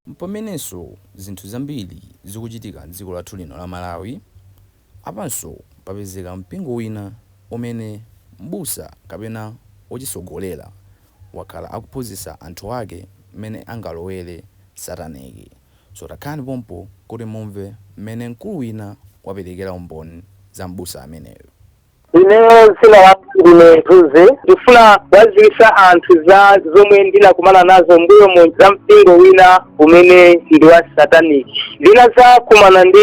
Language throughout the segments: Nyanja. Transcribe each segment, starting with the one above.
M'pamenenso zinthu zambiri zikuchitika m'dziko lathu lino la Malawi. Apanso papezeka mpingo wina umene m'busa kapena wochitsogolera wakhala akuphunzitsa anthu ake m'mene angalowere sataniki. So takhalani pompo kuti mumve mmene mkulu wina waperekera umboni za m'busa ameneyo. Ineyo dzina langa ndine Thuze. Ndikufuna kuwadziwitsa anthu za zomwe ndinakumana nazo m'mbuyomu za mpingo wina umene ndi wa satanic. Ndinadzakumana ndi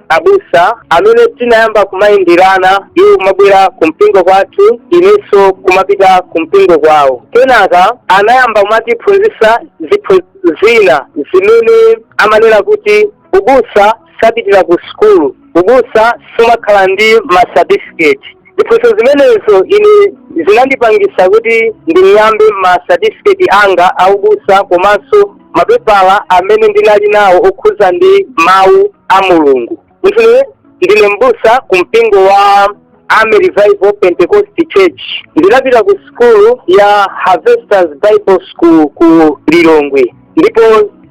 abusa amene tinayamba kumayenderana iwo kumabwera ku mpingo kwathu inenso kumapita ku mpingo kwawo. Kenaka anayamba kumatiphunzitsa ziphunzitso. zina zimene amanena kuti ubusa sapitira ku sukulu ubusa sumakhala ndi masatifiketi ziphunzitso zimenezo ine zinandipangisa kuti nding'ambe masatifiketi anga aubusa komanso mapepala amene ndinali nawo okhuza ndi mawu a mulungu Ine ndine mbusa ku mpingo wa Army Revival Pentecost Church. Ndinapita ku sukulu ya Harvesters Bible School ku Lilongwe. Ndipo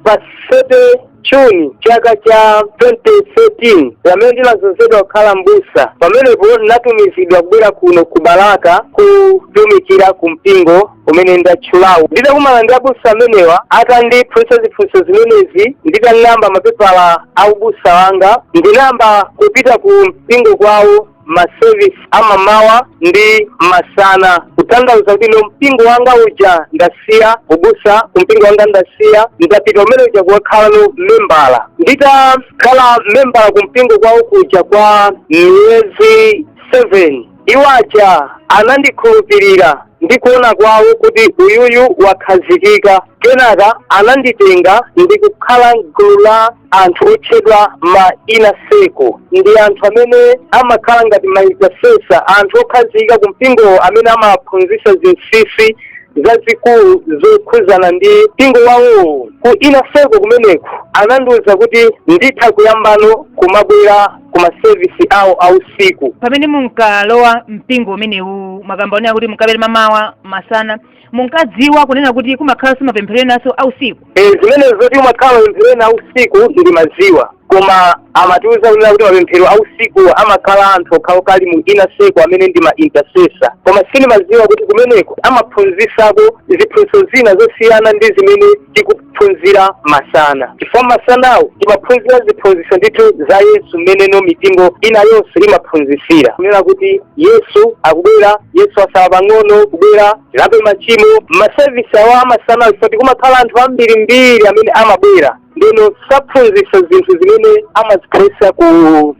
pa 7 June chaka cha 2013 pamene ndinazozedwa kukhala mbusa pamenepo ndinatumizidwa kubwera kuno ku Balaka kutumikira ku mpingo umene ndatchulawu nditakumana ndi abusa amenewa atandiphunzitsa ziphunzitso zimenezi nditang'amba mapepala a ubusa wanga ndinayamba kupita ku mpingo kwawo masevisi amamawa ndi masana kutanthauza kuti no mpingo wanga uja ndasiya ubusa ku mpingo wanga ndasiya ndapita umene uja kukakhalano membala nditakhala membala ku mpingo kwawo kuja kwa miyezi 7 Iwo aja anandikhulupirira ndi kuona kwawo kuti uyuyu wakhazikika. Kenaka ananditenga ndi kukhala m'gulu la anthu otchedwa ma Inner Circle. Ndi anthu amene amakhala ngati ma intercessor, anthu okhazikika ku mpingowo amene amawaphunzitsa zinsinsi zazikulu zokhudzana ndi mpingo wawowo. Ku Inner Circle kumeneko anandiwuza kuti nditha kuyambano kumabwera ku masevisi awo a usiku pamene munkalowa mpingo umenewu mwakamba kunena kuti munkabwera mamawa masana munkadziwa kunena kuti kumakhalanso mapemphero enanso a usiku e, zimene zoti kumakhala mapemphero ena a usiku ndimadziwa koma amatiuza kunena kuti mapemphero a usiku amakhala anthu okhaokha ali mu Inner Circle amene ndi ma intercessor koma sindimadziwa kuti kumeneko amaphunzisako ziphunzitso zina zosiyana ndi zimene tiku kuphunzira masana chifukwa masanawo timaphunzira ziphunzitso ndithu za yesu mmene no mipingo ina yonse imaphunzitsira kunena kuti yesu akubwera yesu asala pang'ono kubwera tilape machimo masevisi awa amasanawo chifukwa choti kumakhala anthu ambirimbiri amene amabwera ndeno saphunzitsa zinthu zimene amaziphunzitsa ku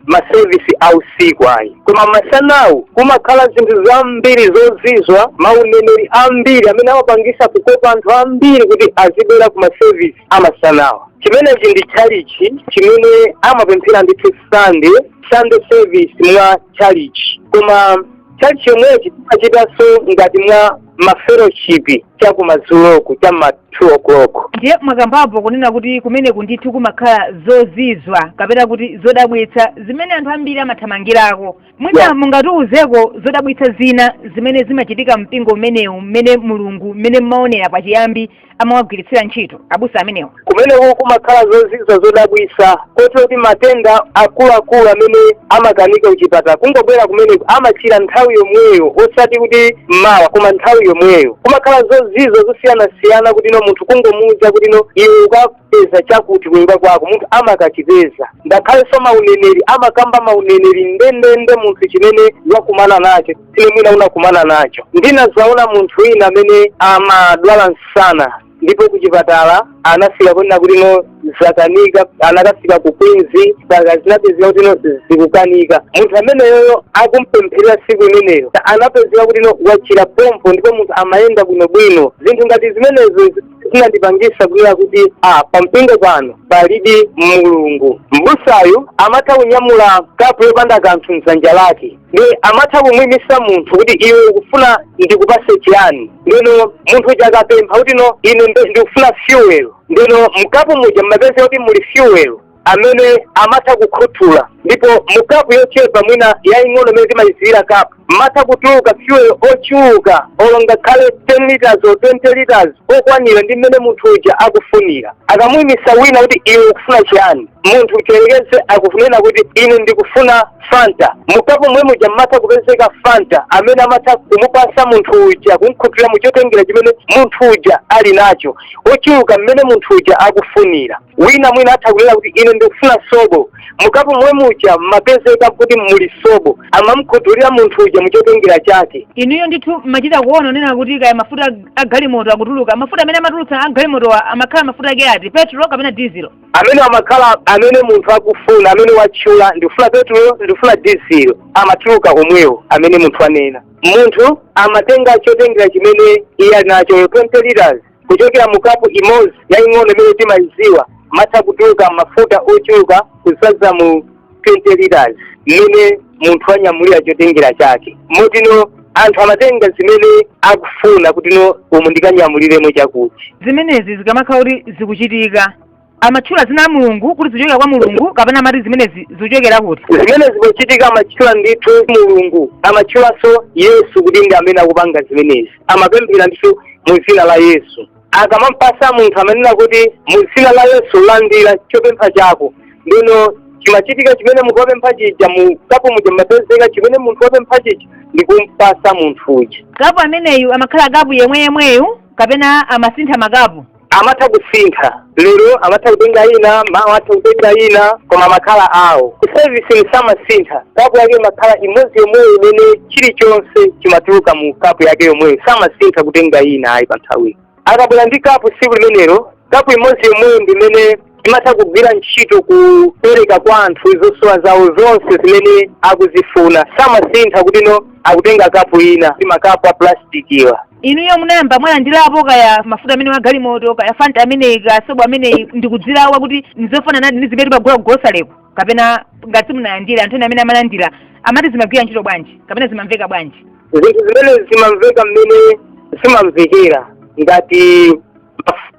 masevisi a usiku ayi koma masanawu kumakhala zinthu zambiri zozizwa mauneneri ambiri amene amapangisa kukopa anthu ambiri kuti azibwera ku masevisi amasanawa chimenechi ndi tchalichi chimene amapemphera ndithu sande sande service mwa tchalichi koma tchalichi yomwechi timachitanso ngati mwa mafeloshipi cha kumadzuloku cha ma 2 o'clock ndiye mwakambapo kunena kuti kumeneku ndithu kumakhala zozizwa kapena kuti zodabwitsa zimene anthu ambiri amathamangirako mwina mungatiuzeko zodabwitsa zina zimene zimachitika mpingo umenewu mmene mulungu mmene mmaonera pachiyambi amawagwiritsira ntchito abusa amenewa kumeneku kumakhala zozizwa zodabwisa kotero kuti matenda akuluakulu amene amakanika kuchipatala kungobwera kumeneku amachira nthawi yomweyo osati kuti mmawa koma nthawi yomweyo kumakhala zozizwa zosiyanasiyana kuti no munthu kungomuuza kuti no iwe uka- peza chakuti kunyumba kwako munthu amakachipeza ngakhalenso mauneneri amakamba mauneneri ndendende munthu chimene wakumana nacho chimene mwina unakumana nacho ndinazaona munthu wina amene amadwala msana ndipo kuchipatala anafika ponena kuti no zakanika anakafika ku queens mpaka zinapezeka kuti no zikukanika munthu ameneyoyo akumpempherera siku imeneyo anapezeka kuti no wachira pompo ndipo munthu amayenda bwinobwino zinthu ngati zimenezo zinandipangisa kunena kuti ah, pampingo pano palidi mulungu mbusayu amatha kunyamula kapu yopanda kanthu mdzanja lake ndiye amatha kumwimisa munthu kuti iwe ukufuna ndikupase chiyani ndeno munthu uja akapempha kuti no ine nde- ndikufuna fuel ndeno mkapu muja mmapezeka kuti muli fuel amene amatha kukhuthula ndipo mu kapu yochepa mwina yaying'ono mmene timayiziwira kapu mmatha kutuluka fuel ochuluka olo ngakhale 10 liters or 20 liters okwanira ndi mmene munthu uja akufunira akamuyimisa wina kuti iwe ukufuna chiyani munthu tiyerekeze akunena kuti ine ndikufuna fanta mukapu mwe muja mmatha kupezeka fanta amene amatha kumupasa munthu uja kumkhuthulira muchotengera chimene munthu uja ali nacho ochuluka mmene munthu uja akufunira wina mwina atha kunena kuti ine ndikufuna sobo mukapu momwe muja mmapezeka kuti muli sobo amamkhuthulira munthu uja muchotengera chake inuyo ndithu mmachita kuona kunena kuti kaya mafuta a- a galimoto akutuluka mafuta amene amatulutsa a galimotowa amakhala mafuta ake ati petro kapena dizilo amene amakhala amene munthu akufuna amene watchula ndikufuna petulo ndikufuna dizilo amatuluka omwewo amene munthu anena munthu amatenga chotengera chimene iye ali nacho 20 liters kuchokera mu kapu imodzi yaying'ono imene timayidziwa matha kutuluka mafuta ochuluka kuzaza mu 20 liters mmene munthu anyamulira chotengera chake motino anthu amatenga zimene akufuna kutino umu ndikanyamuliremo chakuti zimenezi zikamakhala kuti zikuchitika amatchula zina la mulungu kuti zikuchokera kwa mulungu kapena amati zimenezi zikuchokera kuti zimene zikuchitika amatchula ndithu mulungu amatchulanso yesu kuti ndi amene akupanga zimenezi amapemphera ndithu mu dzina la yesu akamampasa munthu amanena kuti mu dzina la yesu landira chopempha chako ndino chimachitika chimene munthu wapempha chija mu kapu muja mmapezeka chimene munthu wapempha chija ndi kumpasa munthu uja kapu ameneyu amakhala kapu yemwe yemweyu kapena amasintha makapu amatha kusintha lero amatha kutenga ina mawa atha kutenga ina koma makhala ao ku service samasintha kapu yake imakhala imodzi yomweyo imene chilichonse chimatuluka mu kapu yake yomweyo samasintha kutenga ina ayi pa nthawi akabwera ndi kapu tsiku limenelo kapu imodzi yomweyo ndimene imatha kugwira ntchito kupereka kwa anthu zosowa zawo zonse zimene akuzifuna samasintha kuti no akutenga kapu ina ndi makapu a plastic awa inuyo munayamba mwalandirapo kaya mafuta amene amagalimoto kaya fanta ameneyi kaya sobo ameneyi ndikudzilawa kuti ndizofananadi ndi zimene timagula kugolosaleko kapena ngati simunalandire anthu ena amene amalandira amati zimagwira ntchito bwanji kapena zimamveka bwanji zinthu zimenezi zimamveka mmene zimamvekera ngati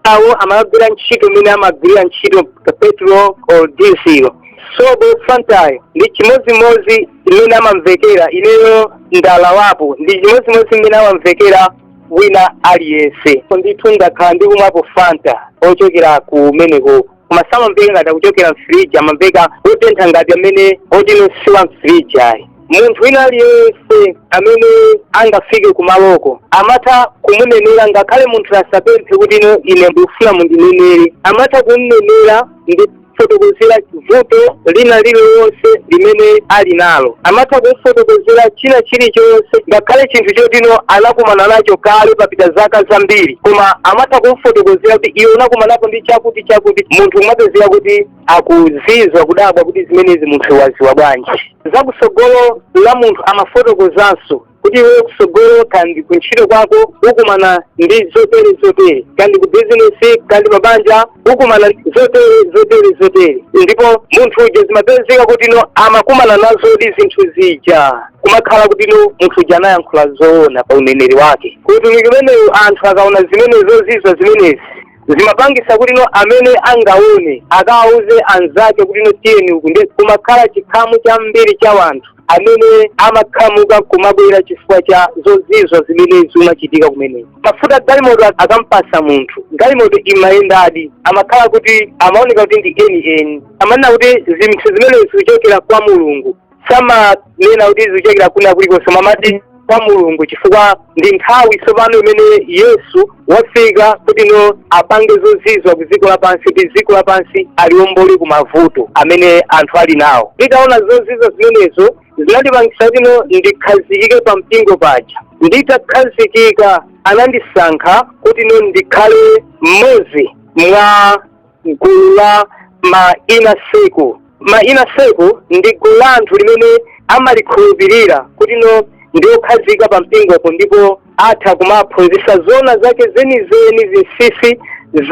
awo amagwira ntchito mmene amagwirira ntchito petrol or diesel sobo fantayo ndi chimodzimodzi mmene amamvekera ineyo ndalawapo ndi chimodzimodzi mmene amamvekera wina aliyense ndithu ndakhala ndikumwapo fanta ochokera kumeneko koma samamveka ngati akuchokera mfiriji amamveka otentha ngati amene otino siwa mfiriji ayi munthu wina aliyense amene angafike kumaloko amatha kumunenera ngakhale munthu asapemphe kuti ino ine ndikufuna mundinenere amatha kumunenera ndi kumfotokozera vuto lina lililonse limene ali nalo amatha kumfotokozera china chilichonse ngakhale chinthu chotino anakumana nacho kale papita zaka zambiri koma amatha kumfotokozera kuti iwe unakumanapo ndi chakuti chakuti munthu kumapezeka kuti akuzizwa kudabwa kuti zimenezi munthu waziwa bwanji za kusogolo la munthu amafotokozanso kuti iwe kusogolo kandi kuntchito kwako ukumana ndi zotere zotere kandi ku bizinesi kandi pabanja ukumana zotere zotere zotere ndipo munthu uja zimapezeka kuti no amakumana nazodi zinthu zija kumakhala kuti no munthu uja anayankhula zoona pa uneneri wake ku utumiki umenewu anthu akaona zimenezo zizwa zimenezi zimapangisa kuti no amene angaone akawauze anzake kuti no tiyeni uku ndi kumakhala chikhamu chambiri cha wanthu amene amakhamuka kumabwera chifukwa cha zozizwa zimene zimachitika kumeneko mafuta galimoto akampasa munthu galimoto imayendadi amakhala kuti amaoneka kuti ndi eni eni amanena kuti zinthu zimenezi zikuchokera kwa mulungu samanena kuti zikuchokera kwina kulikonse amati kwa mulungu chifukwa ndi nthawi tsopano imene yesu wafika kuti no apange zozizwa ku dziko lapansi kuti dziko lapansi aliombole ku mavuto amene anthu ali nawo nditaona zozizwa zimenezo zinandipangisa kuti no ndikhazikike pa mpingo paja nditakhazikika anandisankha kuti no ndikhale mmodzi mwa gulu la ma inner circle ma inner circle ndi gulu la anthu limene amalikhulupirira kuti no ndi okhazika pa mpingopo ndipo atha kumaphunzitsa zona zake zenizeni zinsinsi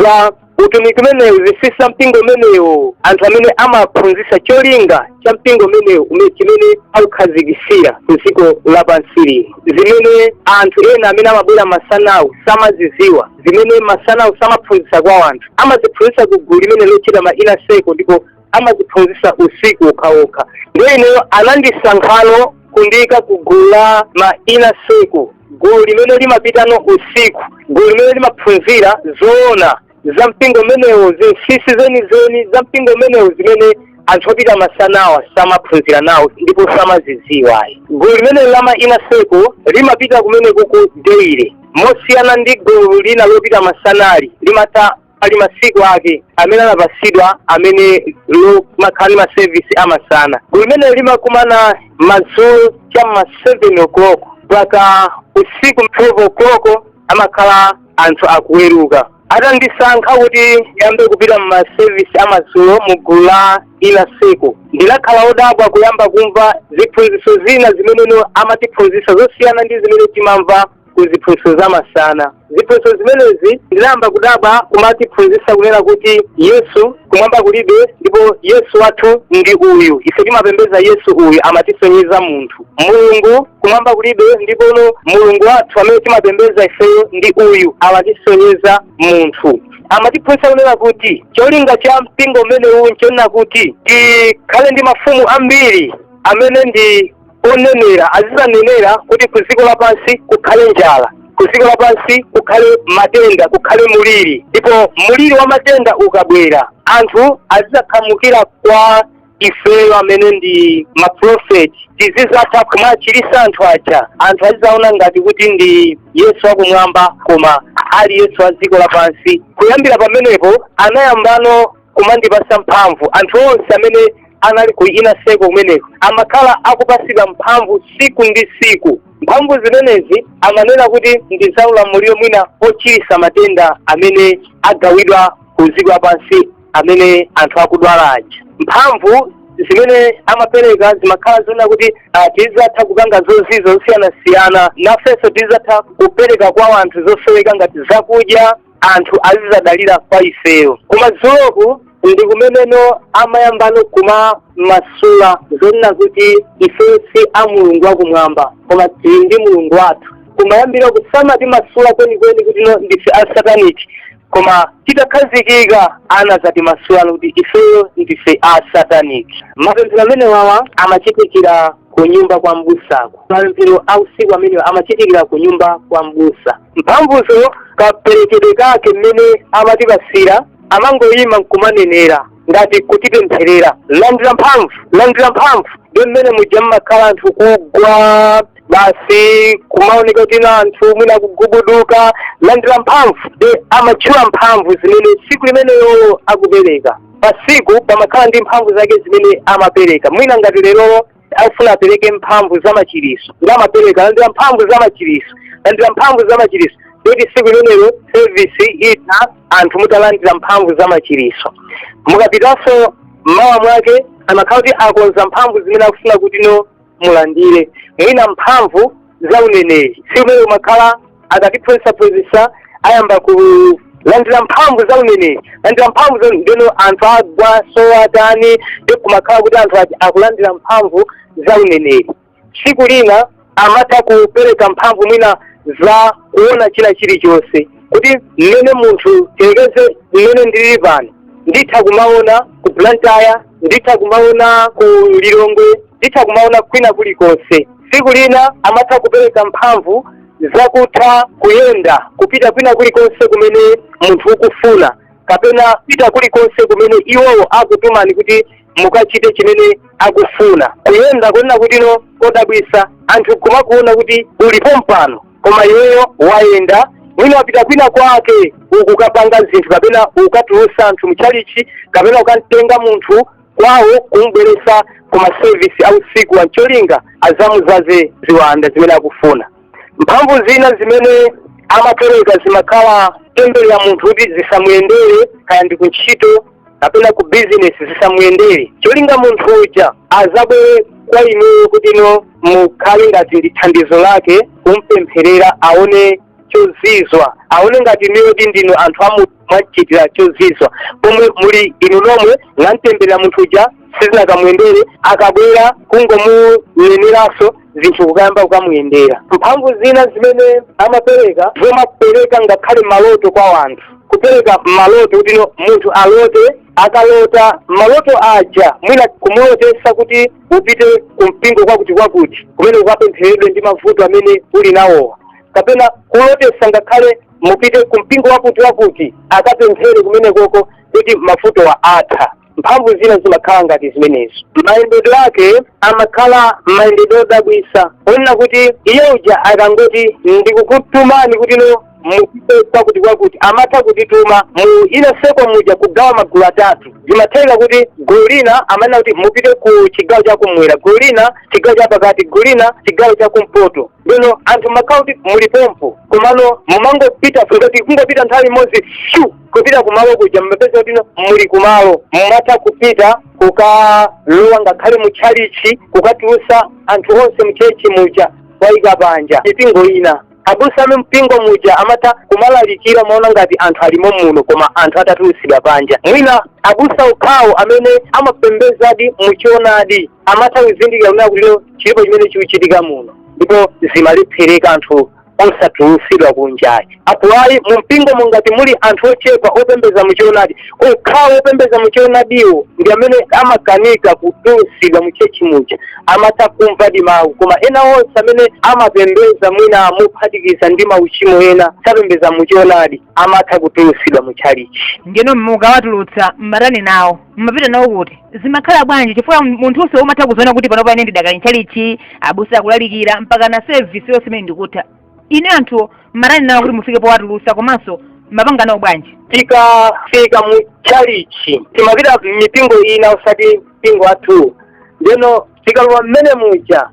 za utumiki umenewu zinsinsi za mpingo umenewu anthu amene amaphunzitsa cholinga cha mpingo umenewu ume- chimene aukhazikisira ku dziko lapansi lino zimene anthu ena amene amabwera masanawo samaziziwa zimene masanawo samaphunzitsa kwa anthu amaziphunzitsa ku gulu limene lotchidwa ma inner circle ndipo amaziphunzitsa usiku okhaokha ndiye ineyo anandisankhano kundiika ku gulu la ma inner circle gulu limene limapitano usiku gulu limene limaphunzira zoona za mpingo umenewo zinsinsi zenizeni za mpingo umenewo zimene anthu opita masanawa samaphunzira nawo ndipo samazidziwa ayi gulu limenelo la ma inner circle limapita kumenekuku daily mosiyana ndi gulu lina lopita masanali limatha ali masiku ake amene anapatsidwa amene limakhala ndi masevisi amasana gulu limenelo limakumana madzulo cha ma 7 o'clock mpaka usiku 12 o'clock amakhala anthu akuweruka atandisankha kuti ndiyambe kupita mumasevisi amadzulo mu gulu la inner circle ndinakhala odabwa kuyamba kumva ziphunzitso zina zimene amatiphunzitsa zosiyana ndi zimene timamva ku ziphunzitso za masana ziphunzitso zimenezi ndinayamba kudabwa kumatiphunzitsa kunena kuti yesu kumwamba kulibe ndipo yesu wathu ndi uyu ife timapembeza yesu uyu amatisonyeza munthu mulungu kumwamba kulibe ndipo no mulungu wathu amene timapembeza ifeyo ndi uyu amatisonyeza munthu amatiphunzitsa kunena kuti cholinga cha mpingo umenewu nchonena kuti tikhale ndi mafumu ambiri amene ndi onenera azizanenera kuti ku dziko lapansi kukhale njala ku dziko lapansi kukhale matenda kukhale muliri ndipo muliri wa matenda ukabwera anthu azizakhamukira kwa ifeyo amene ndi maprofeti tizizatha kumachirisa anthu aja anthu azizaona ngati kuti ndi yesu akumwamba koma ali yesu a dziko lapansi kuyambira pamenepo anayambano kumandipasa mphamvu anthu onse amene anali ku inner circle kumeneko amakhala akupasidwa mphamvu siku ndi siku mphamvu zimenezi amanena kuti ndi za ulamuliro mwina ochirisa matenda amene agawidwa ku dziko lapansi amene anthu akudwala aja mphamvu zimene amapereka zimakhala zonena kuti ah, tizatha kupanga zozizwa zosiyanasiyana nafenso tizatha kupereka kwa anthu zosoweka ngati zakudya anthu azizadalira kwa ifeyo koma madzuloku ndi kumene no amayambano kumamasula zonena kuti ifeyo si a mulungu wakumwamba koma tili ndi mulungu wathu kumayambiroku samatimasula kwenikweni kuti no ndife a satanic koma titakhazikika anazatimasula kuti ifeyo ndife a satanic mapemphero amenewawa amachitikira ku nyumba kwa mbusako mapemphero a usiku amenewa amachitikira ku nyumba kwa mbusa mphamvuzo kaperekedwe kake mmene amatipasira amangoyima nkumanenera ngati kutipempherera landira mphamvu landira mphamvu nde mmene muja mmakhala anthu kugwa basi kumaoneka kuti na anthu mwina kugubuduka landira mphamvu nde amatchula mphamvu zimene tsiku limeneyo akupereka pasiku pamakhala ndi mphamvu zake zimene amapereka mwina ngati lerolo akufuna apereke mphamvu za machiriso nde amapereka landira mphamvu za machiriso landira mphamvu za machiriso kuti siku limenelo service itha anthu mutalandira mphamvu za machiriso mukapitanso mmawa mwake amakhala kuti akonza mphamvu zimene akufuna kuti no mulandire mwina mphamvu za uneneri siku limene kumakhala akatiphunzitsaphunzitsa ayamba kulandira mphamvu za uneneri landira mphamvu za nde no anthu agwa sowatani ndi kumakhala kuti anthu ati akulandira mphamvu za uneneri tsiku lina amatha kupereka mphamvu mwina za kuona china chilichonse kuti mmene munthu tiyerekeze mmene ndilili pano nditha kumaona ku blantyre nditha kumaona ku lilongwe nditha kumaona kwina kulikonse tsiku lina amatha kupereka mphamvu zakutha kuyenda kupita kwina kulikonse kumene munthu ukufuna kapena pita kulikonse kumene iwowo akutumani kuti mukachite chimene akufuna kuyenda kunena kuti no kodabwisa anthu kumakuona kuti uli pompano koma iweyo wayenda mwina wapita kwina kwake ukukapanga zinthu kapena ukatulusa anthu mtchalitchi kapena ukamtenga munthu kwawo kumubweretsa ku masevisi a usiku ncholinga azamuzaze ziwanda zimene akufuna mphamvu zina zimene amapereka zimakhala temberera munthu kuti zisamuyendere kaya ndi kuntchito kapena ku bizinesi zisamuyendere cholinga munthu uja azabwere kwa inuyo kuti inu mukhale ngati ndi thandizo lake kumpempherera aone chozizwa aone ngati inuyo ndinu anthu amu mwamchitira chozizwa pomwe muli inu nomwe mwamtemberera munthu uja sizinakamuyendere akabwera kungomuneneranso zinthu kukayamba kukamuyendera mphamvu zina zimene amapereka zomapereka ngakhale maloto kwa wanthu kupereka maloto kuti no munthu alote akalota maloto aja mwina kumulotesa kuti upite kumpingo kwakuti kwakuti kumene ukapempheredwe ndi mavuto amene uli nawowa kapena kulotesa ngakhale mupite ku mpingo wakuti wakuti akapemphere kumenekoko kuti mavutowa atha mphamvu zina zimakhala ngati zimenezo mayendedwe ake amakhala mayendedwe odabwisa onena kuti iye uja akangoti ndikukutumani kuti no mupite kwakuti kwakuti amatha kutituma mu inner circle muja kugawa magulu atatu zimatheka kuti gulu lina amanena kuti mupite ku chigawo chakumwera gulu lina chigawo chapakati gulu lina chigawo chakumpoto bwino anthu mmakhala kuti muli pompo komano mumangopita ngati kungopita nthawi imodzi shu kupita kumalo kuja mmapeza kuti muli kumalo mumatha kupita kukalowa ngakhale mu tchalichi kukatulusa anthu onse mchechi muja kuwayika panja mipingo ina abusa a mumpingo muja amatha kumalalikira kumaona ngati anthu alimo muno koma anthu atatulusidwa panja mwina abusa okhawo amene amapembezadi muchoonadi amatha kuzindikira kunena kuti lero chilipo chimene chikuchitika muno ndipo zimalephereka anthu osatulutsidwa kunjaku apo ayi mu mpingo mungati muli anthu ochepa opembeza muchoonadi okhawo opembeza muchoonadiwo ndi amene amakanika kutulutsidwa mu chechi muja amatha kumvadi mawu koma ena onse amene amapembeza mwina mophatikiza ndi mauchimo ena sapembeza muchoonadi amatha kutulutsidwa mu chalichi ndiyeno mukawatulutsa mmatani nawo mmapita nawo kuti zimakhala bwanji chifukwa munthunso umatha kuziona kuti panopa ine ndidakali mtchalichi abusa akulalikira mpakana sevisi yonse imene ndikutha ine anthuwo mmatani nawo kuti mufike powatulusa komanso mmapanga nawo bwanji tikafika mu tchalichi timapita mipingo ina osati mpingo wathu ndeno tikalowa mmene muja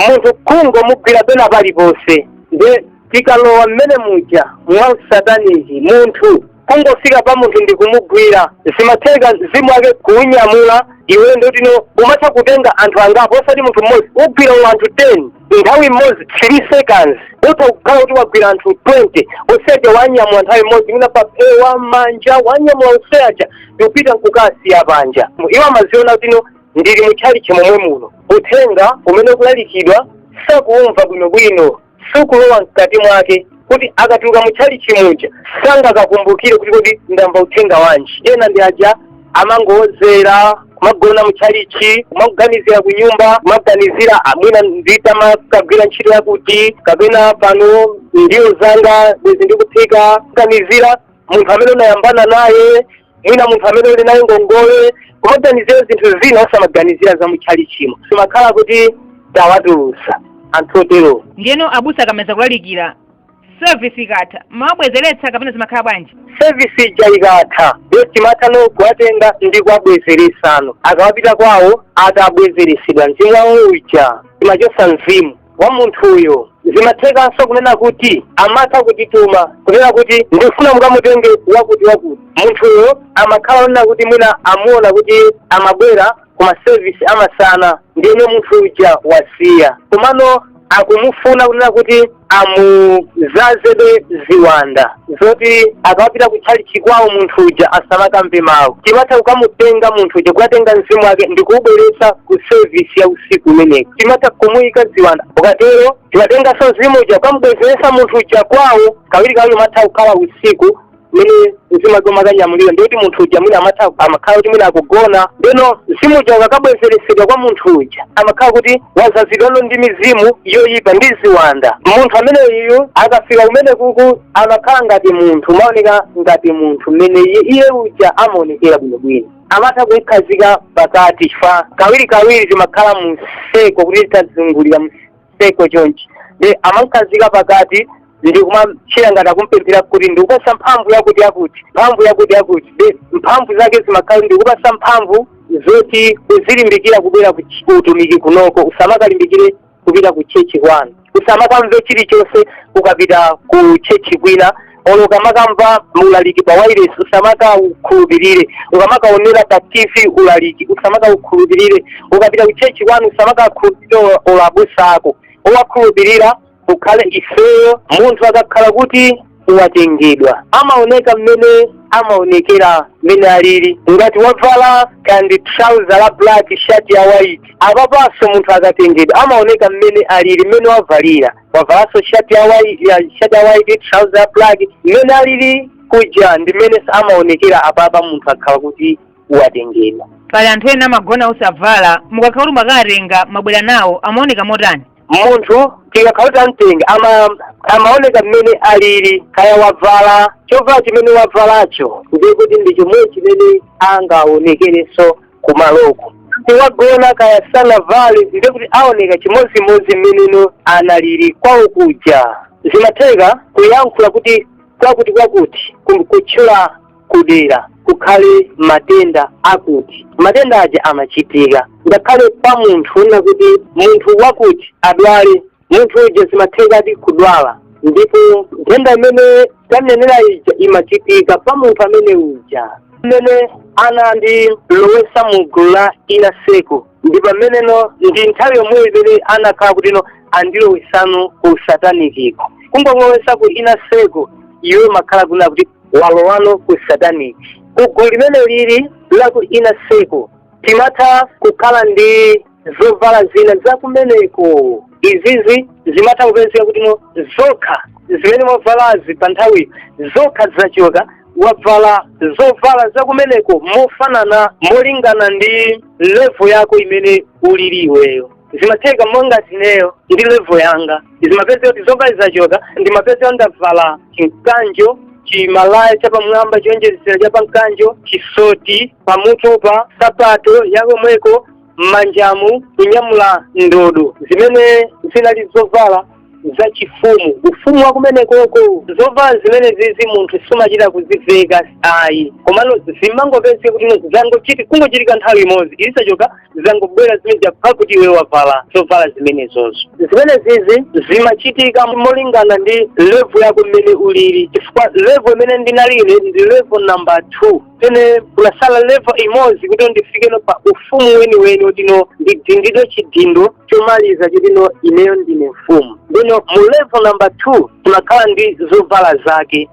munthu kungomugwira pena paliponse nde tikalowa mmene muja mwa sataniki munthu kungofika pa munthu ndi kumugwira zimatheka mzimu wake kuunyamula iwe ndoti no umatha kutenga anthu angapo osati munthu mmodzi ugwira mwina anthu 10 nthawi imodzi 3 seconds utha kukhala kuti wagwira anthu 20 useja wanyamula nthawi imodzi mwina paphewa m'manja wanyamula useja ndikupita nkukasiya panja iwo amaziona kuti no ndili mu tchalitchi momwe muno uthenga umene ukulalikidwa sakuumva bwinobwino sukulowa mkati mwake kuti akatuluka mu tchalitchi muja sangakakumbukire kuti kodi ndamva uthenga wanji ena ndi aja amangowodzera kumagona mu tchalitchi kumaganizira ku nyumba kumaganizira "Ah, mwina n'tamakagwira ntchito yakuti kapena pano ndiwo zanga bwezi ndikuphika kuganizira munthu amene unayambana naye mwina munthu amene uli naye ngongole kumaganizira zinthu zina osamaganizira za mutchalichimo zimakhala kuti tawatulutsa anthu otero ndiyeno abusa akamaliza kulalikira service ikatha mumawabwezeretsa kapena zimakhala bwanji sevisi ija ikatha ndiyo timathano kuwatenga ndi kuwabwezeretsano akamapita kwawo atabwezeretsedwa mzimu wawo uja timachosa mzimu wa munthuyo zimathekanso kunena kuti amatha kutituma kunena kuti ndikufuna mukamutenge wakuti wakuti munthuyo amakhala onena kuti mwina amuona kuti amabwera ku masevisi amasana ndiyeno munthu uja wasiya komano akumufuna kunena kuti amudzazebe ziwanda zoti akamapita kutchalitchi kwawo munthu uja asamakamve mawu timatha kukamutenga munthu uja kukatenga mzimu wake ndi kuubweretsa ku sevisi ya usiku umeneko timatha kumuyika ziwanda tikatero timatenganso mzimu uja kukamubwezeretsa munthu uja kwawo kawiri kawiri imatha kukhala usiku mene mzimu wake mumakanyamulira ndikuti munthu uja mwina amatha amakhala kuti mwina akugona ndeno mzimu uja ukakabwezeretsedwa kwa munthu uja amakhala kuti wadzazidwano ndi mizimu yoyipa ndi ziwanda munthu ameneyu akafika kumene kuku amakhala ngati munthu amaoneka ngati munthu mmene iye iye uja amaonekera bwinobwino amatha kumukhazika pakati chifukwa kawiri kawiri timakhala mu seko kuti tazungulira seko chonchi nde amamkhazika pakati ndi kumachita ngati akumpempherera kuti ndikupasa mphamvu yakuti yakuti mphamvu yakuti yakuti nde mphamvu zake zimakhala ndikupasa mphamvu zoti uzilimbikira kubwera ku ch- ku utumiki kunoko usamakalimbikire kupita ku chechi kwanu usamakamve chilichonse ukapita ku chechi kwina olo ukamakamva ulaliki pa wireless usamakaukhulupirire ukamakaonera pa tv ulaliki usamakaukhulupirire ukapita kuchechi kwanu usamakaukhulupirire olo abusa ako owakhulupirira ukhale ifeyo munthu akakhala kuti watengedwa amaoneka mmene amaonekera mmene alili ngati wavala kandi trouser la black shati ya white apapanso munthu akatengedwa amaoneka mmene alili mmene wavalira wavalanso shati ya white trouser ya black mmene alili kuja ndi mmene amaonekera apapa munthu akhala kuti watengedwa pali anthu ena amagona osavala mukakhala kuti mwakatenga mwabwera nawo amaoneka motani munthu tikakhala kuti tamtenga amaoneka mmene alili kaya wavala chovala chimene wavalacho ndiye kuti ndi chomwe chimene angaonekerenso kumaloko wagona kaya sanavale ndiye kuti aoneka chimodzimodzi mmeneno analili kwawo kuja zimatheka kuyankhula kuti kwakuti kwakuti kutchula kudera kukhale matenda akuti matenda aja amachitika ngakhale pa munthu kunena kuti munthu wakuti adwale munthu uja zimathekadi kudwala ndipo nthenda imene tanenera ija imachitika pa munthu amene uja mmene anandilowesa mu gulu la inner circle ndi pameneno ndi nthawi yomweyo imene anakhala kutino andilowesano ku satanikiko kungolowesa ku inner circle iwe makhala kunena kuti walowano ku sataniki ku gulu limene lili la ku inner circle timatha kukhala ndi zovala zina za kumeneko izizi zimatha kupezeka kutino zokha zimene mwavalazi pa nthawi zokha zachoka wavala zovala za kumeneko mofanana molingana ndi level yako imene ulili iweyo zimatheka monga ngati ineyo ndi level yanga zimapezeka kuti zovala zachoka ndimapezeka ndavala chimkanjo chimalaya chapamwamba choonjezera chapa mkanjo chisoti pamutupa sapato yakomweko m'manjamu kunyamula ndodo zimene zinali zovala zachifumu ufumu wa kumenekoko zovala zimene zizi munthu sumachita kuziveka ayi komano zimangopezeka kuti kungochitika nthawi imodzi izi zachoka zangobwera zimene zakhala kuti iwe wavala zovala zimenezozo zimene zizi zimachitika molingana ndi level yako mmene ulili chifukwa level imene ndinali ine ndi level number two pene kunasala level imodzi kuti ndifikeno pa ufumu weniweni wotino ndidindidwe chidindo chomaliza chotino ineyo ndine mfumu ndino mu level number two zimakhala ndi zovala zake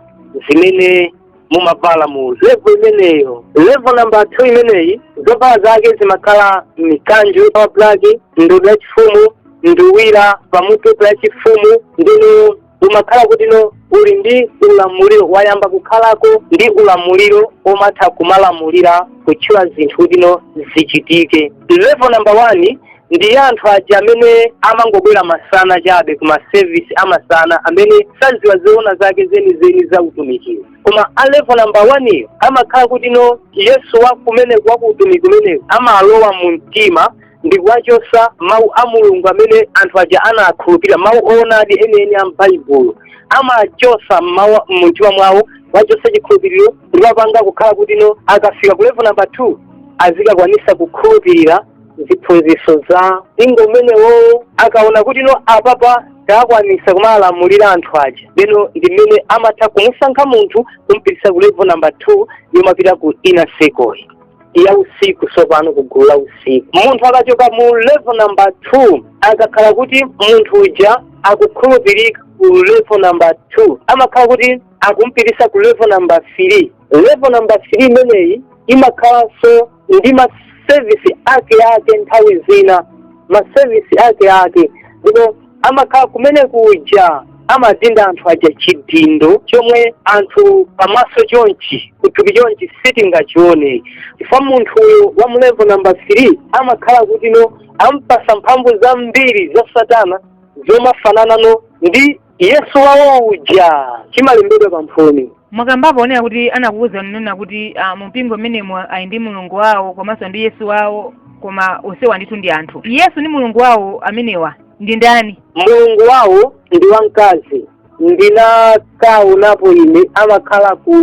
zimene mumavala mu level imeneyo level number two imeneyi zovala zake zimakhala mikanjo ya black ndodo yachifumu nduwira pamutu yachifumu ndino umakhala kuti no uli ndi ulamuliro wayamba kukhalako ndi ulamuliro omatha kumalamulira kutchula zinthu kuti no zichitike level number one ndi anthu aja amene amangobwera masana chabe ku masevisi amasana amene saziwa zoona zake zenizeni za utumikiwo koma a level number one iyo amakhala kuti no yesu wa kumeneko wa ku utumiki umenewu amalowa mu mtima ndi kuwachotsa mawu a mulungu amene anthu aja anakhulupirira mawu oonadi enieni a m'baibulo amachotsa mawu mu mtima mwawo kuwachotsa chikhulupiriro ndi kuwapanga kukhala kuti no akafika ku level number two azikakwanisa kukhulupirira ziphunzitso za mpingo umenewo akaona kuti no apapa takwanisa kumalamulira anthu aja ndiyeno ndi mmene amatha kumusankha munthu kumpitisa ku level number two yomapita ku inner circle ya usiku tsopano ku gulu la usiku munthu akachoka mu level number two akakhala kuti munthu uja akukhulupirika ku level number two amakhala kuti akumpitisa ku level number three level number three imeneyi imakhalanso ndi masevisi ake ake nthawi zina masevisi ake ake ndipo amakhala kumene kuja amadinda anthu aja chidindo chomwe anthu pamaso chonchi kuthupi chonchi sitingachione chifukwa munthu uyo wa mulevo namba 3 amakhala kuti no ampasa mphamvu zambiri za satana zomafananano ndi yesu wawo uja chimalembedwa pamphumi mwakambapo ponena kuti anakuwuzani kunena kuti ah, mumpingo mmenemo ali ndi mulungu wawo komanso ndi yesu wawo koma onsewa ndithu ndi anthu yesu ndi mulungu wawo amenewa ndi ndani mulungu wawo ndi wamkazi ndinakaonapo ine amakhala ku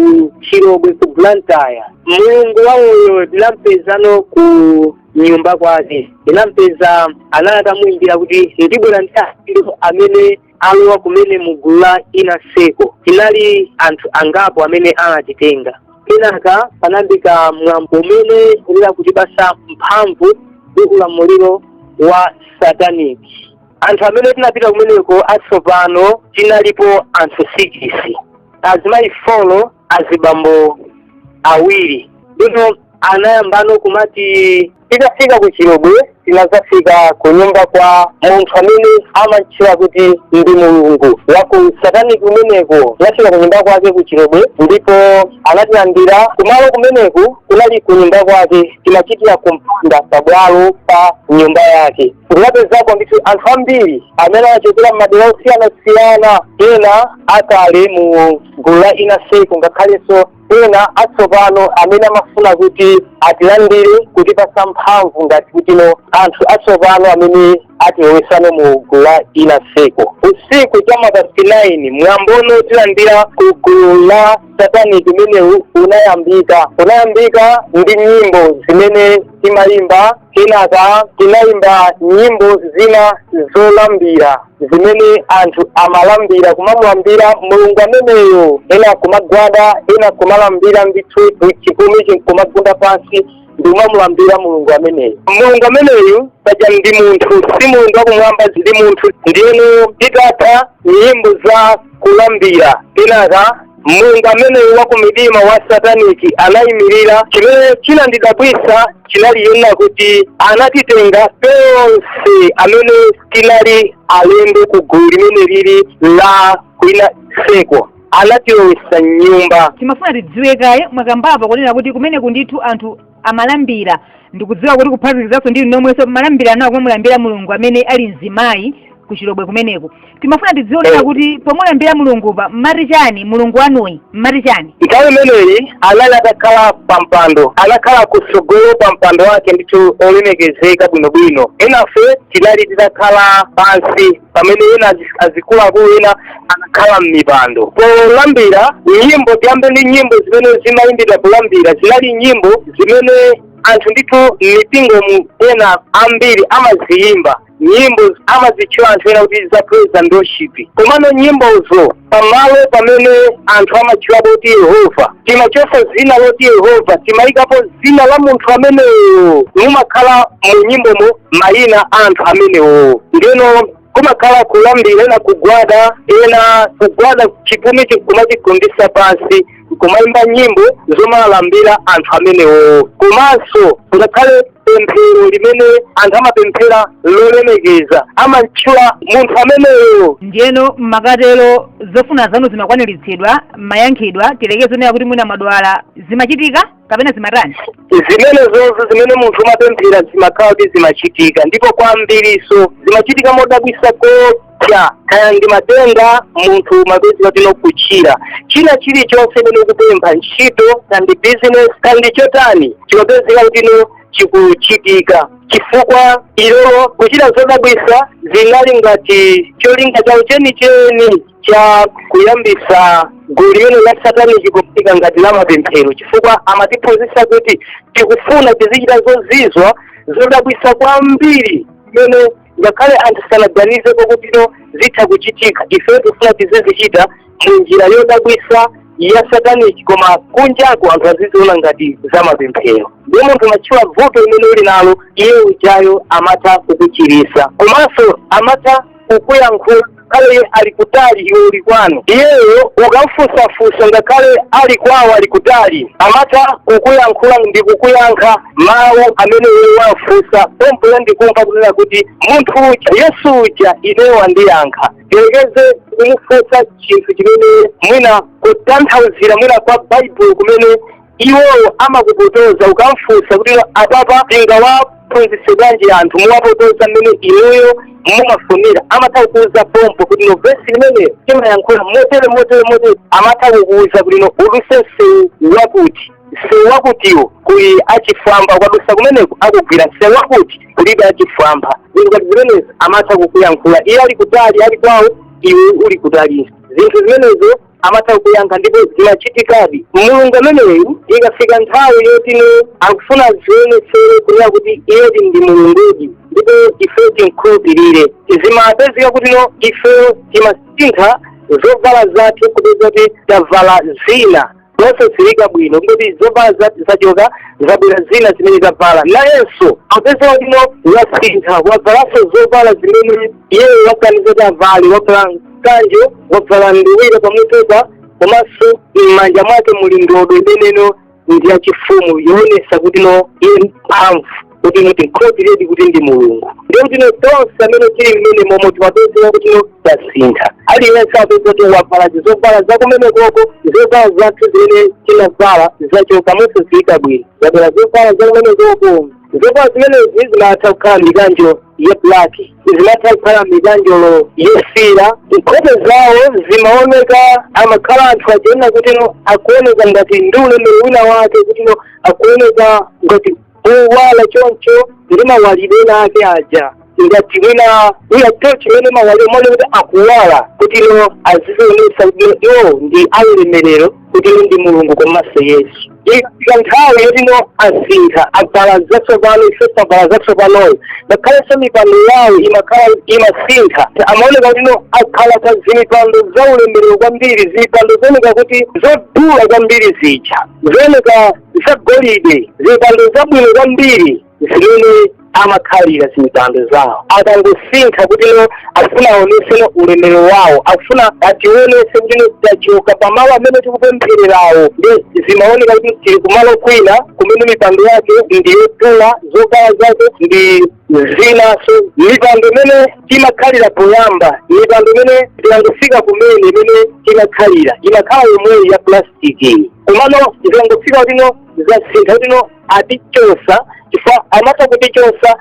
chilobwe ku blantyre mulungu wawoyo ndinampezano ku nyumba kwake ndinampeza anali atamuyimbira kuti ndibwera ndi anthu amene alowa kumene mu gulu la inner circle tinali anthu angapo amene anatitenga kenaka panayambika mwambo umene kunali kutipasa mphamvu ndi ulamuliro wa sataniki anthu amene tinapita kumeneko atsopano tinalipo anthu sikisi azimayi folo azibambo awiri ndiyeno anayambano kumati tikafika ku chilobwe tinazafika ku nyumba kwa munthu amene amantchula kuti ndi mulungu waku sataniki kumeneko tinafika ku nyumba kwake ku chilobwe ndipo anatilandira kumalo kumeneku kunali ku nyumba kwake timachitira kumpanda pabwalo pa nyumba yake tinapezako ndithu anthu ambiri amene anachokera m'madera osiyanasiyana ena akale mu gulu la Inner Circle ngakhalenso ena atsopano amene amafuna kuti atilandire kutipasa mphamvu ngati kutino anthu atsopano amene atilowesano mu gulu la Inner Circle usiku cha ma past 9 mwambono tilandira ku gulu la satanic umenewu unayambika unayambika ndi nyimbo zimene timayimba kenaka tinayimba nyimbo zina zolambira zimene anthu amalambira kumamulambira mulungu ameneyo ena kumagwada ena kumalambira ndithu chipumi nkumagunda pansi ndi kumamulambira mulungu ameneyo mulungu ameneyu paja ndi munthu si mulungu wakumwamba ndi munthu ndiyeno titatha nyimbo za kulambira kenaka mulungu ameneyu wa kumidima wa sataniki anayimirira chimene chinandidabwisa chinali chonena kuti anatitenga tonse amene tinali alendo ku gulu limene lili la ku Inner Circle anatilowesa m'nyumba timafuna tidziwe kaye mwakambapa kunena kuti kumeneku ndithu anthu amalambira ndikudziwa kuti kuphatikizanso ndi inu nomwenso mmalambira nawo kumulambira mulungu amene ali mzimayi ku chilobwe kumeneku timafuna tidziwe lero kuti pomulambira mulungupa mmati chani mulungu wanuyi mmati chani nthawi imeneyi anali atakhala pa mpando anakhala kutsogolo pa mpando wake ndithu olemekezeka bwinobwino enafe tinali titakhala pansi pamene ena azi- azikuluakulu ena anakhala m'mipando polambira nyimbo tiyambe ndi nyimbo zimene zimayimbidwa polambira zinali nyimbo zimene anthu ndithu m'mipingomu ena ambiri amaziyimba nyimbo amazitchula anthu ena kuti za praise and worship komano nyimbozo pamalo pamene anthu amatchula kuti yehova timachosa zina loti yehova timayikapo zina la munthu ameneyo mumakhala mu nyimbomo mayina a anthu amenewo ndeno kumakhala kulambira ena kugwada ena kugwada chipumi nkumachigundisa pansi kumayimba nyimbo zomalambira anthu amenewo komanso ngakhale pemphero limene anthu amapemphera lolemekeza amamtchula munthu ameneyo ndiyeno mmakatero zofuna zanu zimakwaniritsidwa mayankhidwa tiyerekeze zonena kuti mwina mmadwala zimachitika kapena zimatani zimene zonse zimene munthu umapemphera zimakhala kuti zimachitika ndipo kwambiriso zimachitika modabwisa ko ya kaya ndi matenda munthu mapezeka kutino kuchira china chilichonse chimene ukupempha ntchito kaya ndi business kaya ndi chotani chimapezeka kutino chikuchitika chifukwa iwowo kuchita zodabwisa zinali ngati cholinga chawo chenicheni cha kuyambisa gulu limene la satanic kuyika ngati la mapemphero chifukwa amatiphunzitsa kuti tikufuna tizichita zozizwa zodabwisa kwambiri zimene ngakhale anthu sanaganize kuti no zitha kuchitika ife tifuna tizizichita mu njira yodabwisa ya sataniki koma kunjako anthu aziziona ngati za mapemphero ndiye munthu umatchula vuto limene uli nalo iye ujayo amatha kukuchirisa komanso amatha kukuyankhula ngakhale ali kutali iwe uli kwanu iyeyo ukamfunsafunsa ngakhale ali kwawo ali kutali amatha kukuyankhula ndi kukuyankha mawu amene iwe wamfunsa pompoyo nkumva kunena kuti munthu uja yesu uja ineyo wandiyankha tiyerekeze kumufunsa chinthu chimene mwina kutanthauzira mwina kwa baibulo kumene iwowo amakupotoza ukamfunsa kuti apapa tingawaphunzitse bwanji anthu kuwapotoza mmene inuyo mumafunira amatha kukuuza pompo kuti no vesi limeneli timayankhula motere motere motere amatha kukuuza kuti no uduse msewu wakuti msewu wakutiwo kuli achifwamba ukadusa kumeneko akugwira msewu wakuti kulibe achifwamba zinthu ngati zimenezi amatha kukuyankhula iye ali kutali ali kwawo iwe uli kutali zinthu zimenezo amatha kuyankha ndipo zimachitikadi mulungu ameneyu ikafika nthawi yoti no akufuna azionetsere kunena kuti iyedi ndi mulungudi ndipo ifeyo timkhulupirire zimapezeka kuti no ifeyo timasintha zovala zathu kupezeka kuti tavala zina zosadziwika bwino kuti zovala zathu zachoka zabwera zina zimene tavala nayenso apezeka kuti no wasintha wavalanso zovala zimene iyeyo waganiza kuti avale wavala kanjo wabvala nduwira pamutu pake komanso m'manja mwake muli ndodo imeneyo ndi yachifumu yoonesa kuti no iye ndi mphamvu kuti no timkhulupiriredi kuti ndi mulungu ndiye kuti no tonse amene tili mmenemomo timapezeka kuti no tasintha aliyense apezeka kuti wabvala zizobvala zakumene koko zobvala zathu zimene tinavala zachoka mosadziwika bwino zabwera zobvala zakumene koko zovala zimenezi zimatha kukhala mikanjo ya black zimatha kukhala mikanjo yofiira nkhope zawo zimaoneka amakhala anthu achina kuti no akuoneka ngati ndi ulemerero wina wake kuti no akuoneka ngati owala choncho ndi mawalidwe ake aja ngati mwina ndi tochi mmene imawalira mwakuti akuwala kuti no azizionesa kuti iwo ndi aulemerero kuti no ndi mulungu komanso yesu ikafika nthawi yoti no asintha abvala zatsopano ifenso tabvala zatsopanozo ngakhalenso mipando yawo imakhala imasintha amaoneka kuti no akhala pa zimipando za ulemerero kwambiri zimipando zooneka kuti zodula kwambiri zija zooneka zagolide zimipando zabwino kwambiri zimene amakhalira zimpando zawo akangosintha kuti no akufuna aonese ulemero wawo akufuna ationese kuti no tachoka pamalo amene tikupemphererawo ndi zimaoneka kuti tili kumalo kwina kumene mipando yake ndi yodula zovala zake ndi zinaso mipando imene timakhalira poyamba mipando imene tikangofika kumene imene timakhalira imakhala yomweyi ya plastic komano zikangofika kuti no zasintha kuti no atichosa chifukwa amatha kutichosa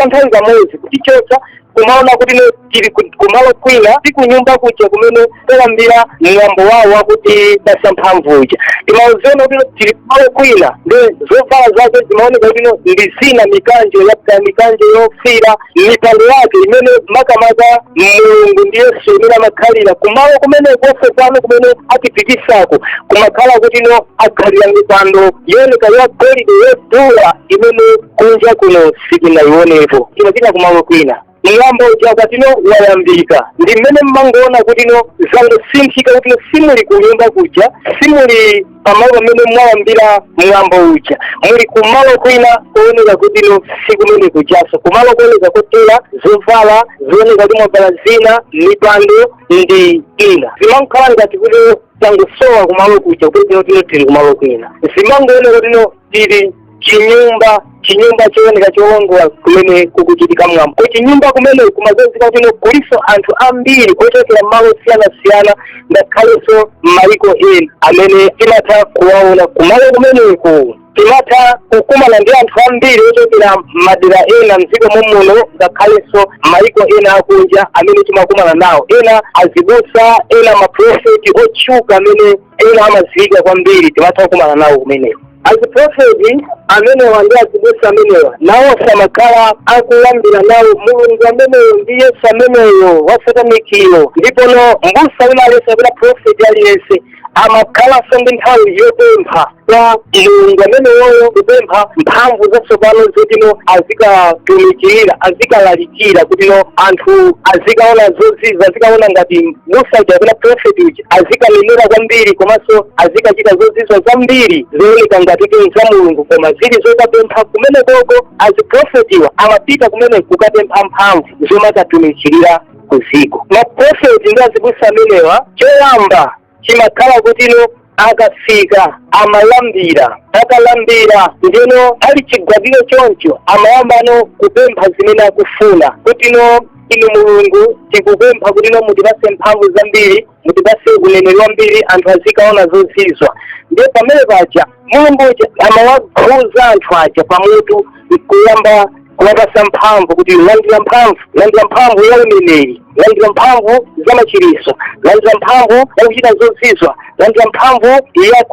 nthawi kamodzi kutichosa kumaona kuti no tili ku- kumalo kwina si kunyumba kuja kumene tayambira mwambo wawo wakuti basa mphamvu uja timaziona kuti no tili kumalo kwina nde zovala zake zimaoneka kuti no ndi zina mikanjo yapita mikanjo yofira mipando yake imene makamaka mulungu ndi yesu imene amakhalira kumalo kumene konse pano kumene atipitisako kumakhala kuti no akhalira mipando yooneka ya golide yodula imene kunja kuno sitinayionepo timapita kumalo kwina mwambo uja wakuti no wayambika ndi mmene mmangoona kuti no zangosinthika kuti no simuli kunyumba kuja simuli pamalo pamene mwayambira mwambo uja muli kumalo kwina kuoneka kuti no sikumene kujaso kumalo kuoneka kotera zovala zooneka kuti mwavala zina mipando ndi ina zimankhala ngati kuti tangosowa kumalo kuja kupita tino tili kumalo kwina zimangooneka kuti no tili chinyumba chinyumba chooneka choongola kumene kukuchitika mwambo kuchinyumba kumene kumazaza kuti kuliso anthu ambiri ochokera malo osiyanasiyana ngakhalenso m'mayiko ena amene timatha kuwaona kumalo kumeneko timatha kukumana ndi anthu ambiri ochokera madera ena mdziko mom'muno ngakhalenso mayiko ena akunja amene timakumana nawo ena azibusa ena maprofeti otchuka amene ena amadziwika kwambiri timatha kukumana nawo kumeneko aziprofeti amenewa ndi azibusa amenewa nawo amakhala akulambira nawo mulungu ameneyo ndi yesu ameneyo wasatanikiyo ndipono mbusa wina aliyense kapena profeti aliyense amakhalanso ndi nthawi yopempha kwa mulungu ameneyoyo kupempha mphamvu zatsopano zotino azikatumikirira azikalalikira kutino anthu azikaona zozizwa azikaona ngati mbusa uja kapena profeti uja azikanenera kwambiri komanso azikachita zozizwa zambiri zooneka ngati kuti za mulungu koma zili zokapempha kumenekoko aziprofetiwa amapita kumene kukapempha mphamvu zomakatumikirira kuziko maprofeti ndi azibusa amenewa choyamba chimakhala kutino akafika amalambira akalambira ndiyeno ali chigwadiro choncho amayambano kupempha zimene akufuna kutino inu mulungu tikupempha kutino mutipase mphamvu zambiri mutipase uneneri wambiri anthu azikaona zozizwa ndiye pamene paja mulungu uja amawakhuza anthu aja pamutu nkuyamba kuwapasa mphamvu kuti landira mphamvu landira mphamvu ya uneneri landira mphamvu za machiriso landira mphamvu ya kuchita zozizwa landira mphamvu ya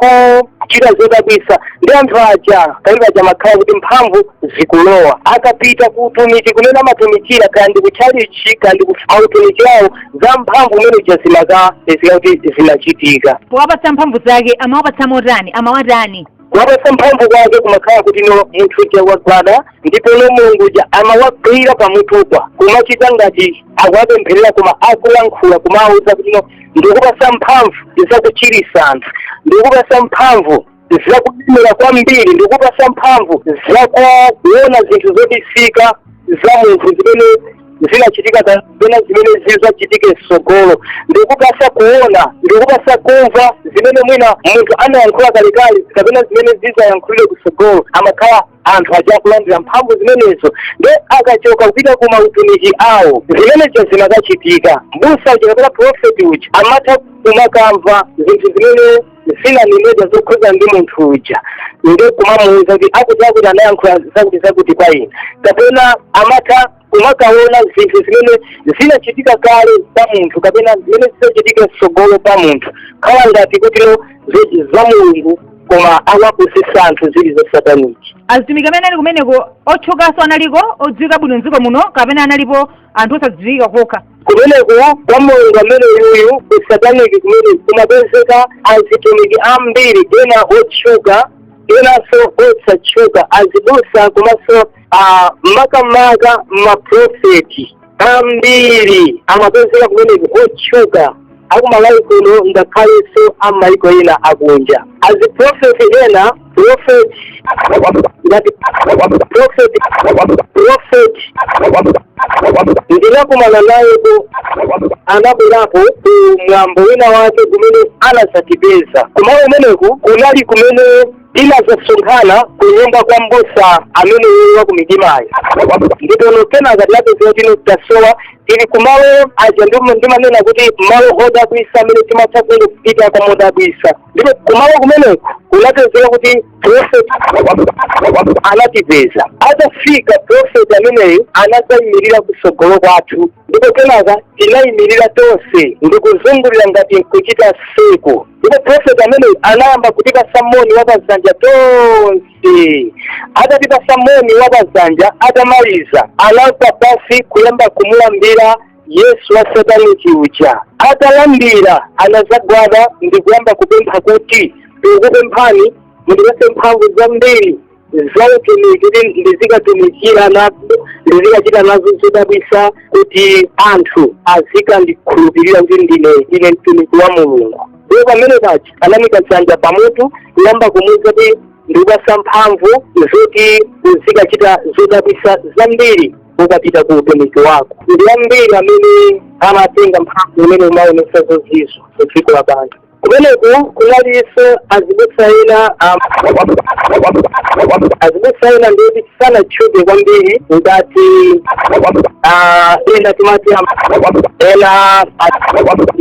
kuchita zodabwisa ndi anthu aja kalibe aja makhala kuti mphamvu zikulowa akapita ku utumiki kumene amatumikira kaya ndi ku tchalichi kaya ndi ku mautumiki awo za mphamvu umene ija zimakapezeka kuti zimachitika powapatsa mphamvu zake amawapatsa motani amawatani kuwapatsa mphamvu kwake kumakhala kuti no munthu uja wagwada ndipo no mulungu uja amawagwira pamutukwa kumachita ngati akuwapempherera koma akulankhula kumawauza kuti no ndikupatsa mphamvu zakuchiritsa anthu ndikupatsa mphamvu zakulemera kwambiri ndikupasa mphamvu zakuona zinthu zobisika za munthu zimene zinachitika kapena zimene zizachitike mtsogolo ndikupasa kuona ndikupasa kumva zimene mwina munthu anayankhula kalekale kapena zimene zizayankhulidwe kutsogolo amakhala anthu aja kulandira mphamvu zimenezo nde akachoka kupita ku mautumiki awo zimenezo zimakachitika mbusa uja kapena profeti uja amatha kumakamva zinthu zimene zinanenedwa zokhuza ndi munthu uja nde kumamuuza kuti akuti akuti anayankhula zakuti zakuti kwa ena kapena amatha kumakaona zinthu zimene zinachitika kale pa munthu kapena zimene zizachitika mtsogolo pa munthu khala ngati kuti no za mulungu koma akuwapusisa anthu zili za sataniki azitumiki amene anali kumeneko otchukanso analiko odziwika bwino mdziko muno kapena analipo anthu osadziwika okha kumeneko kwa mulungu amene uyuyu ku sataniki kumene kumapezeka azitumiki ambiri ena otchuka enanso osatchuka azibusa komanso ah, makamaka maprofeti ambiri amapezeka kumeneko otchuka akumalawi kuno ngakhalenso ammayiko ena akunja aziprofeti ena Prophet, that prophet, prophet, ndinakumana nayeko anabwerapo ku mwambo wina wake kumene anadzatipeza kumalo umeneku kunali kumene tinazasonkhana ku nyumba kwa mbusa ameneyo wakumidimayo ndipo no kenaka tinapezeka kuti no tasowa tili kumalo aja ndimanena kuti malo odabwisa amene timatha kungopitako modabwisa ndipo kumalo kumeneko kunapezeka kuti prophet anatipeza atafika prophet ameneyo anadzayimirira kutsogolo kwathu ndipo kenaka tinayimirira tonse ndikuzungulira ngati nkuchita seko ndipo prophet ameneyo anayamba kutipasa moni wa pazanja tonse Eh, atatipasa moni wa pazanja atamaliza anagwa pasi kuyamba kumulambira yesu wa sataniki uja atalambira anazagwada ndi kuyamba kupempha kuti ndikupemphani mundipase mphamvu zambiri za utumiki kuti ndizikatumikira nazo ndizikachita nazo zodabwisa kuti anthu azikandikhulupirira kuti ndinedi mtumiki wa mulungu ndipo pamene paja anamika dzanja pamutu kuyamba kumuuza kuti ndikupasa mphamvu zoti uzikachita zodabwisa zambiri ukapita ku utumiki wako ndi ambiri amene amatenga mphamvu imene kumaonesa zozizwa ku dziko lapansi kumeneko kunalinso azibusa ena um, azibusa ena ndiyoti sanatchuke kwambiri ngati ah, ena timati ena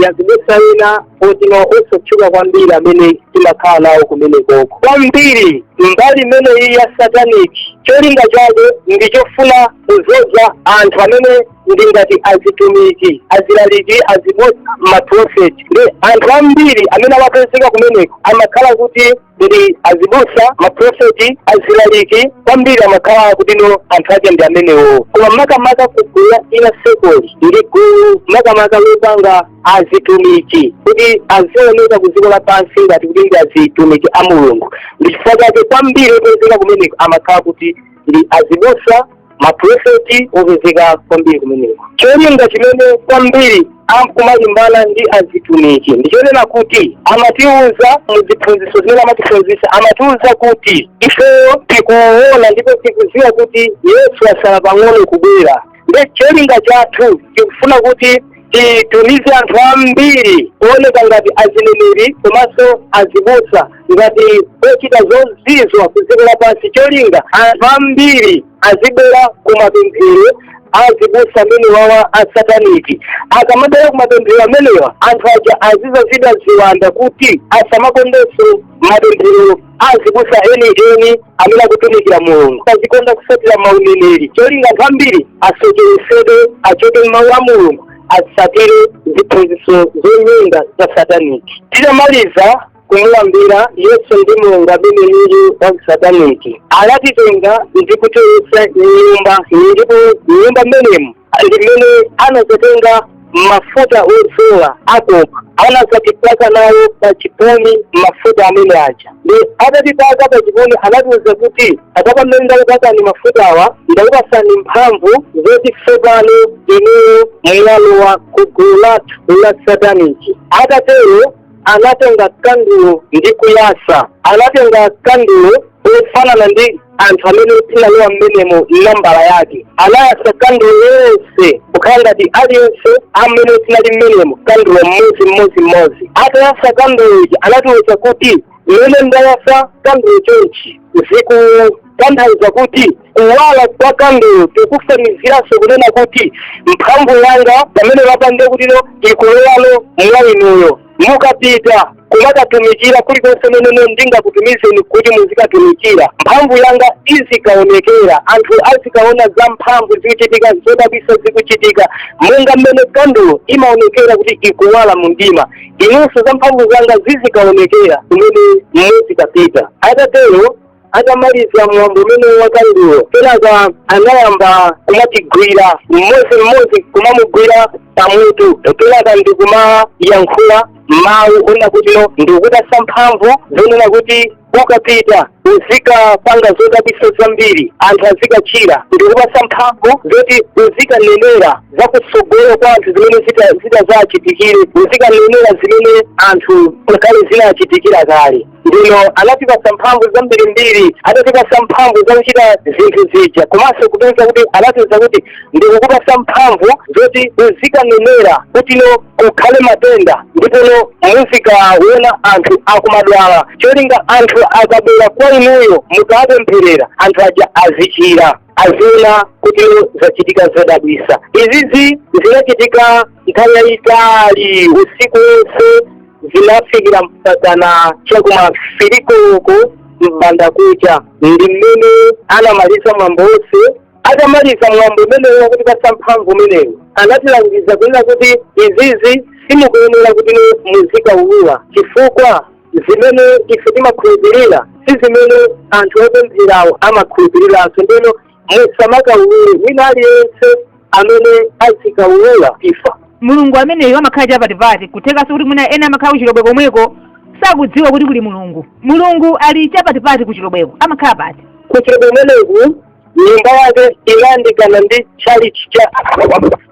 azibusa ena otino osatchuka kwambiri amene timakhala nawo kumenekoko kwambiri mbali imene iyi ya satanic cholinga chake ndi chofuna kuzoza anthu amene ndi ngati azitumiki azilaliki azibusa maprofeti ndi anthu ambiri amene amapezeka kumeneko amakhala kuti ndi azibusa maprofeti azilaliki kwambiri amakhala akutino anthu ake ndi amenewo koma makamaka kugulu la ina sekoli ndi gulu makamaka lopanga azitumiki kuti azioneka ku dziko lapansi ngati kuti ndi azitumiki a mulungu ndi chifukwa chake kwambiri opezeka kumeneko amakhala kuti ndi azibusa maprofeti opezeka kwambiri kumeneko cholinga chimene kwambiri amkumalimbana ndi azitumiki ndichonena kuti amatiuza muziphunziso zimene amatiphunzisa amatiuza kuti ife tikuona ndipo tikuziwa kuti yesu asala pang'ono kubwera nde cholinga chathu tikufuna kuti titumize anthu ambiri owoneka ngati azineneri komanso azibusa ngati ochita zozizwa ku dziko lapansi cholinga anthu ambiri azibwera ku mapemphero azibusa amenewawa asataniki akamabwera ku mapemphero amenewa anthu aja azizazidwa ziwanda kuti asamakondenso mapemphero azibusa eni eni amene akutumikira mulungu azikonda kusatira mauneneri cholinga anthu ambiri asocheresedwe achoke m'mawu a mulungu asatire ziphunziso zonyenga za sataniki titamaliza kumulambira yesu ndi mulungu ameneyu wa kusataniki anatitenga ndi kutilowesa mnyumba ndipo mnyumba mmenemu ndi mmene anazatenga mafuta odzola akoma anazatipaka nawo pa chipumi mafuta amene aja nde atatipaka pa chipumi anatiuza kuti apapa pamene ndakupakani mafutawa ndakupasani mphamvu zoti tsopano inuyo mwalowa ku gulu lathu la sataniki atatero anatenga kandulo ndi kuyasa anatenga kandulo ofanana ndi anthu amene tinalowa mmenemo nambala yake anayasa kandulo yonse kukhala ngati aliyense amene tinali mmenemo kandulo mmodzi mmodzi mmodzi atayasa kandulo ija anatiwuza kuti mmene ndayasa kandulo chonchi zikutanthauza kuti kuwala kwa kandulo tikufaniziranso kunena kuti mphamvu yanga pamene lapange kutino ikulowano mwa inuyo mukapita kumakatumikira kulikonse mmene ndingakutumizeni kuti muzikatumikira mphamvu yanga izikaonekera anthu azikaona za mphamvu zikuchitika zodabwisa zikuchitika monga mmene kandulo imaonekera kuti ikuwala mu mdima inunso za mphamvu zanga zizikaonekera kumene muzikapita atatero atamaliza mwambo umene wa kandulo kenaka anayamba kumatigwira mmodzi mmodzi kumamugwira pamutu kenaka ndikumayankhula mawu onena kutino ndikupatsa mphamvu zonena kuti ukapita uzikapanga zodabwitsa zambiri anthu azikachira ndikupatsa mphamvu zoti uzikanenera za kutsogolo kwa anthu zimene zita- zitazachitikire uzikanenera zimene anthu kale zinachitikira kale ndino anatipasa mphamvu zambirimbiri adatipasa mphamvu zakuchita zinthu zija komanso kupeza kuti anatiuza kuti ndikukupasa mphamvu zoti uzikanenera kutino kukhale matenda ndipono muzikaona anthu akumadwala cholinga anthu akabwera kwa inuyo mukawapempherera anthu aja azichira aziona kuti zachitika zodabwisa izizi zinachitika nthawi yayitali usiku wonse zinafikira mpakana chakuma 3 koloko mbandakucha ndi mmene anamaliza mwambo wonse atamaliza mwambo umenewu wakutipasa mphamvu umenewu anatilangiza kunena kuti izizi simukuyenera kuti muzikaulula chifukwa zimene ife timakhulupirira si zimene anthu opempherawo amakhulupiriranso ndeno musamakaulule wina aliyense amene azikaulula imfa mulungu ameneyo amakhala chapatipati kuthekanso kuti mwina ena amakhala kuchilobwe komweko sakudziwa kuti kuli mulungu mulungu ali chapatipati kuchilobweko amakhala pati kuchilobwe kumeneku nyumba yake inayandikana ndi tchalichi cha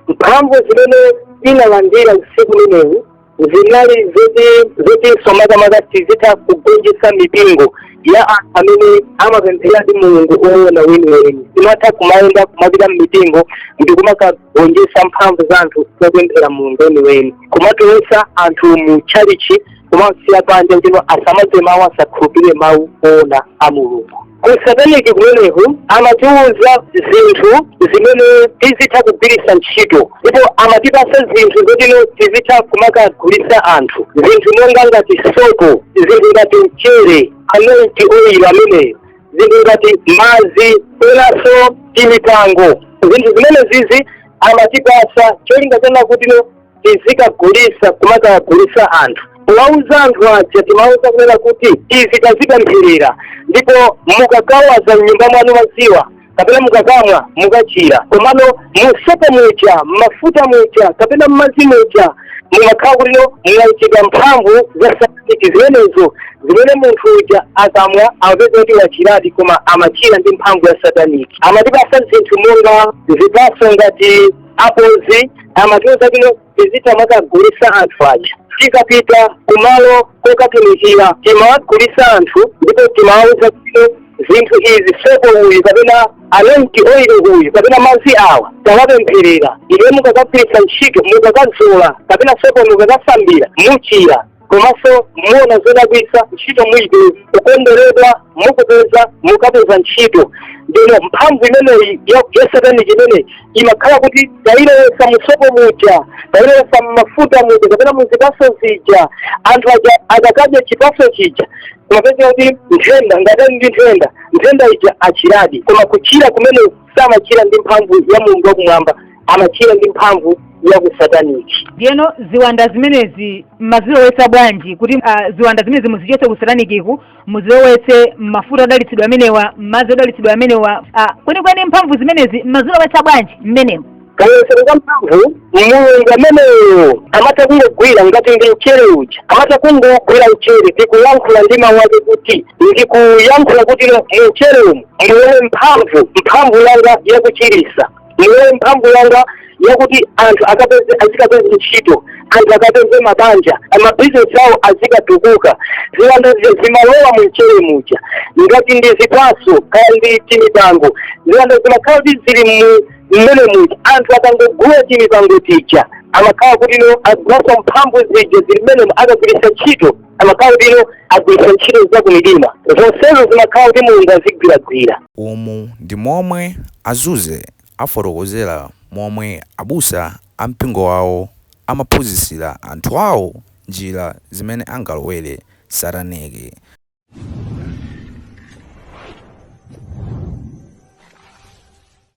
mphamvu zimene tinalandira usiku umenewu zinali zoti zotinso makamaka tizitha kugonjetsa mipingo ya anthu amene amapempheradi mulungu oona weniweni timatha kumayenda kumapita mmipingo ndi kumakagonjetsa mphamvu za anthu zopemphera mulungu weniweni kumatulutsa anthu mu tchalichi kumawasiya panja kuti asamamve mawu asakhulupirire mawu oona a mulungu Kusataniki kumeneku amatiwuza zinthu zimene tizitha kugwiritsa ntchito ndipo amatipasa zinthu zotino tizitha kumakagulitsa anthu zinthu monga ngati sopo zinthu ngati mchere anointi oyilo ameneyo zinthu ngati madzi penaso timipango zinthu zimene zizi amatipasa cholinga chonena kutino tizikagulisa kumakagulisa anthu kuwauza anthu aja timawuza kunena kuti izi tazipempherera ndipo mukagawaza mnyumba mwanu maziwa kapena mukakamwa mukachira komano musopa muja mmafuta muja kapena mmazi muja mumakhala kuti no mwaikidwa mphamvu za sataniki zimenezo zimene munthu uja akamwa amapeza kuti wachiradi koma amachira ndi mphamvu ya sataniki amatipasa zinthu monga zipaso ngati ma apozi amatiuza kuti tizitha kumakagulisa anthu aja tikapita kumalo kokatumikira timawagulisa anthu ndipo timawauza kuti zinthu izi sopo uyu kapena anointi oili uyu kapena madzi awa tawapempherera ife mukakagwirisa ntchito mukakadzola kapena sopo mukakasambira muchira komanso muona zodabwitsa ntchito muite kukondweredwa mukupeza mukapeza ntchito ndino mphamvu imeneyi ya ya satanic imeneyi imakhala kuti tailowesa musopo muja tailowesa mmafuta muja kapena muzipaso zija anthu aja akakadya chipaso chija amapeza kuti nthenda ngati ali ndi nthenda nthenda ija achiradi koma kuchira kumene samachira ndi mphamvu ya mulungu wakumwamba amachira ndi mphamvu ya kusataniki ndiyeno ziwanda zimenezi mmazilowetsa bwanji kuti ah, ziwanda zimenezi muzichotse kusatanikiku muzilowetse mmafuta odalitsidwa amenewa mmadzi odalitsidwa amenewa ah, kwenikweni mphamvu zimenezi mmazilowetsa bwanji mmenemo kayesero ka mphamvu mulungu ameneyo amatha kungogwira ngati ndi mchere uja amatha kungogwira mchere ndikuyankhula ndi mawu ake kuti ndikuyankhula kuti mchere umu mulowe mphamvu mphamvu yanga yakuchirisa mulowe mphamvu yanga yakuti anthu azikapeza ntchito anthu akapeze mabanja amabizinesi awo azikatukuka ziwanda zi- zimalowa mu mchere muja ngati ndi zipaso kaya ndi timipango ziwanda zimakhala kuti zili mu mmenemuja anthu akangogula timipango tija amakhala kuti no agulaso mphamvu zija zili mmenemo akagwiritsa ntchito amakhala kuti no agwiritsa ntchito za kumidima zonsezo zimakhala kuti mulungu azigwiragwira umu ndi momwe azuze afotokozera momwe abusa a mpingo wawo amaphunzitsira anthu awo njira zimene angalowere sataniki